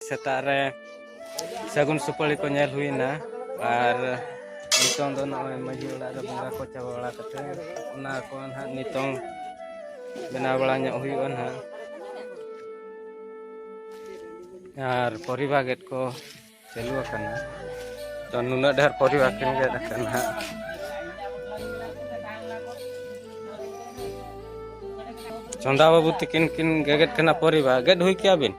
ᱥᱮᱛᱟᱜ ᱨᱮ ᱥᱟᱹᱜᱩᱱ ᱥᱩᱯᱟᱹᱲᱤ ᱠᱚ ᱧᱮᱞ ᱦᱩᱭᱱᱟ ᱟᱨ ᱱᱤᱛᱚᱝ ᱫᱚ ᱱᱚᱜᱼᱚᱭ ᱢᱟᱺᱡᱷᱤ ᱚᱲᱟᱜ ᱨᱮ ᱵᱚᱸᱜᱟ ᱠᱚ ᱪᱟᱵᱟ ᱵᱟᱲᱟ ᱠᱟᱛᱮ ᱚᱱᱟ ᱠᱚ ᱱᱟᱦᱟᱜ ᱱᱤᱛᱚᱝ ᱵᱮᱱᱟᱣ ᱵᱟᱲᱟ ᱧᱚᱜ ᱦᱩᱭᱩᱜᱼᱟ ᱱᱟᱦᱟᱜ ᱟᱨ ᱯᱚᱨᱤᱵᱟ ᱜᱮᱴ ᱠᱚ ᱪᱟᱹᱞᱩ ᱟᱠᱟᱱᱟ ᱛᱚ ᱱᱩᱱᱟᱹᱜ ᱰᱷᱮᱨ ᱯᱚᱨᱤᱵᱟ ᱠᱤᱱ ᱜᱮᱴ ᱟᱠᱟᱱᱟ ᱱᱟᱦᱟᱜ ᱪᱚᱸᱫᱟ ᱵᱟᱹᱵᱩ ᱛᱤᱠᱤᱱ ᱠᱤᱱ ᱜᱮᱜᱮᱫ ᱠᱟᱱᱟ ᱯᱚᱨᱤᱵᱟ ᱜᱮᱫ ᱦᱩᱭ ᱠᱮᱭᱟ ᱵᱤᱱ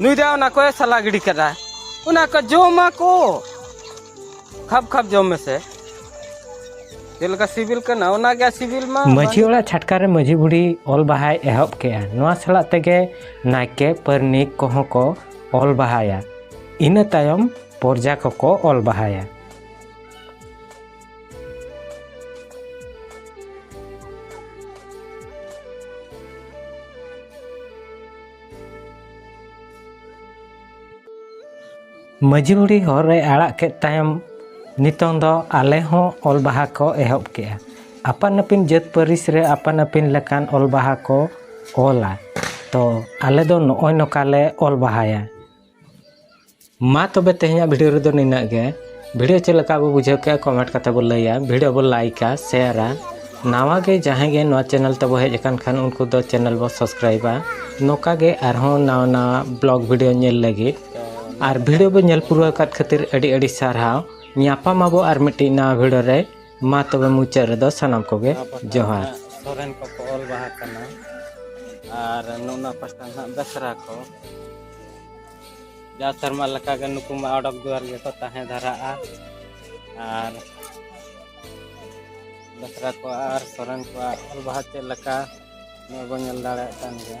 ᱱᱩᱭ ᱫᱚ ᱚᱱᱟ ᱠᱚᱭ ᱥᱟᱞᱟ ᱜᱤᱰᱤ ᱠᱟᱫᱟ ᱚᱱᱟ ᱠᱚ ᱡᱚᱢᱟ ᱠᱚ ᱠᱷᱟᱯ ᱠᱷᱟᱯ ᱡᱚᱢ ᱢᱮᱥᱮ ᱪᱮᱫ ᱞᱮᱠᱟ ᱥᱤᱵᱤᱞ ᱠᱟᱱᱟ ᱚᱱᱟ ᱜᱮ ᱥᱤᱵᱤᱞ ᱢᱟ ᱢᱟᱹᱡᱷᱤ ᱚᱲᱟᱜ ᱪᱷᱟᱴᱠᱟ ᱨᱮ ᱢᱟᱹᱡᱷᱤ ᱵᱩᱲᱦᱤ ᱚᱞ ᱵᱟᱦᱟᱭ ᱮᱦᱚᱵ ᱠᱮᱜᱼᱟ ᱱᱚᱣᱟ ᱥᱟᱞᱟᱜ ᱛᱮᱜᱮ ᱱᱟᱭᱠᱮ ᱯᱟᱹᱨᱱᱤᱠ ᱠᱚᱦᱚᱸ ᱠᱚ ᱚᱞ ᱵᱟᱦᱟᱭᱟ ᱤᱱᱟᱹ ᱛᱟᱭᱚᱢ ᱯᱚᱨᱡᱟ ᱠᱚᱠᱚ ᱚᱞ ᱵᱟᱦᱟᱭᱟ ᱢᱟᱹᱡᱷᱤ ᱵᱩᱲᱦᱤ ᱦᱚᱨ ᱨᱮ ᱟᱲᱟᱜ ᱠᱮᱫ ᱛᱟᱭᱚᱢ ᱱᱤᱛᱚᱝ ᱫᱚ ᱟᱞᱮ ᱦᱚᱸ ᱚᱞ ᱵᱟᱦᱟ ᱠᱚ ᱮᱦᱚᱵ ᱠᱮᱜᱼᱟ ᱟᱯᱟᱱ ᱟᱹᱯᱤᱱ ᱡᱟᱹᱛ ᱯᱟᱹᱨᱤᱥ ᱨᱮ ᱟᱯᱟᱱ ᱟᱹᱯᱤᱱ ᱞᱮᱠᱟᱱ ᱚᱞ ᱵᱟᱦᱟ ᱠᱚ ᱚᱞᱟ ᱛᱚ ᱟᱞᱮ ᱫᱚ ᱱᱚᱜᱼᱚᱭ ᱱᱚᱝᱠᱟ ᱞᱮ ᱚᱞ ᱵᱟᱦᱟᱭᱟ ᱢᱟ ᱛᱚᱵᱮ ᱛᱮᱦᱮᱧᱟᱜ ᱵᱷᱤᱰᱤᱭᱳ ᱨᱮᱫᱚ ᱱᱤᱱᱟᱹᱜ ᱜᱮ ᱵᱷᱤᱰᱤᱭᱳ ᱪᱮᱫ ᱞᱮᱠᱟ ᱵᱚ ᱵᱩᱡᱷᱟᱹᱣ ᱠᱮᱜᱼᱟ ᱠᱚᱢᱮᱱᱴ ᱠᱟᱛᱮ ᱵᱚ ᱞᱟᱹᱭᱟ ᱵᱷᱤᱰᱤᱭᱳ ᱵᱚ ᱞᱟᱭᱤᱠᱟ ᱥᱮᱭᱟᱨᱟ ᱱᱟᱣᱟ ᱜᱮ ᱡᱟᱦᱟᱸᱭ ᱜᱮ ᱱᱚᱣᱟ ᱪᱮᱱᱮᱞ ᱛᱮᱵᱚ ᱦᱮᱡ ᱟᱠᱟᱱ ᱠᱷᱟᱱ ᱩᱱᱠᱩ ᱫᱚ ᱪᱮᱱᱮᱞ ᱵᱚ ᱥᱟᱵᱥᱠᱨᱟᱭᱤᱵᱟ ᱱᱚᱝᱠᱟ ᱜᱮ ᱟᱨᱦᱚᱸ ᱱᱟᱣᱟ ᱱᱟᱣᱟ ᱵᱞᱚᱜ ᱵᱷᱤᱰᱤᱭᱳ ᱧᱮᱞ ᱞᱟᱹᱜᱤᱫ ᱟᱨ ᱵᱷᱤᱰᱤᱭᱳ ᱵᱚ ᱧᱮᱞ ᱯᱩᱨᱟᱹᱣ ᱟᱠᱟᱫ ᱠᱷᱟᱹᱛᱤᱨ ᱟᱹᱰᱤ ᱟᱹᱰᱤ ᱥᱟᱨᱦᱟᱣ ᱧᱟᱯᱟᱢ ᱟᱵᱚ ᱟᱨ ᱢᱤᱫᱴᱤᱡ ᱱᱟᱣᱟ ᱵᱷᱤᱰᱤᱭᱳ ᱨᱮ ᱢᱟ ᱛᱚᱵᱮ ᱢᱩᱪᱟᱹᱫ ᱨᱮᱫᱚ ᱥᱟᱱᱟᱢ ᱠᱚᱜᱮ ᱡᱚᱦᱟᱨ ᱥᱚᱨᱮᱱ ᱠᱚᱠᱚ ᱚᱞ ᱵᱟᱦᱟ ᱠᱟᱱᱟ ᱟᱨ ᱱᱚᱣᱟ ᱯᱟᱥᱴᱟ ᱱᱟᱦᱟᱜ ᱵᱮᱥᱨᱟ ᱠᱚ ᱡᱟ ᱥᱮᱨᱢᱟ ᱞᱮᱠᱟᱜᱮ ᱱᱩᱠᱩ ᱢᱟ ᱚᱰᱚᱠ ᱫᱩᱣᱟᱨ ᱜᱮᱠᱚ ᱛᱟᱦᱮᱸ ᱫᱷᱟᱨᱟᱜᱼᱟ ᱟᱨ ᱵᱮᱥᱨᱟ ᱠᱚᱣᱟᱜ ᱟᱨ ᱥᱚᱨᱮᱱ ᱠᱚᱣᱟᱜ ᱚᱞ ᱵᱟᱦᱟ ᱪᱮᱫ ᱞᱮᱠᱟ ᱱᱚᱣᱟ ᱵᱚᱱ ᱧᱮᱞ ᱫᱟᱲᱮᱭᱟᱜ ᱠᱟᱱ ᱜᱮᱭᱟ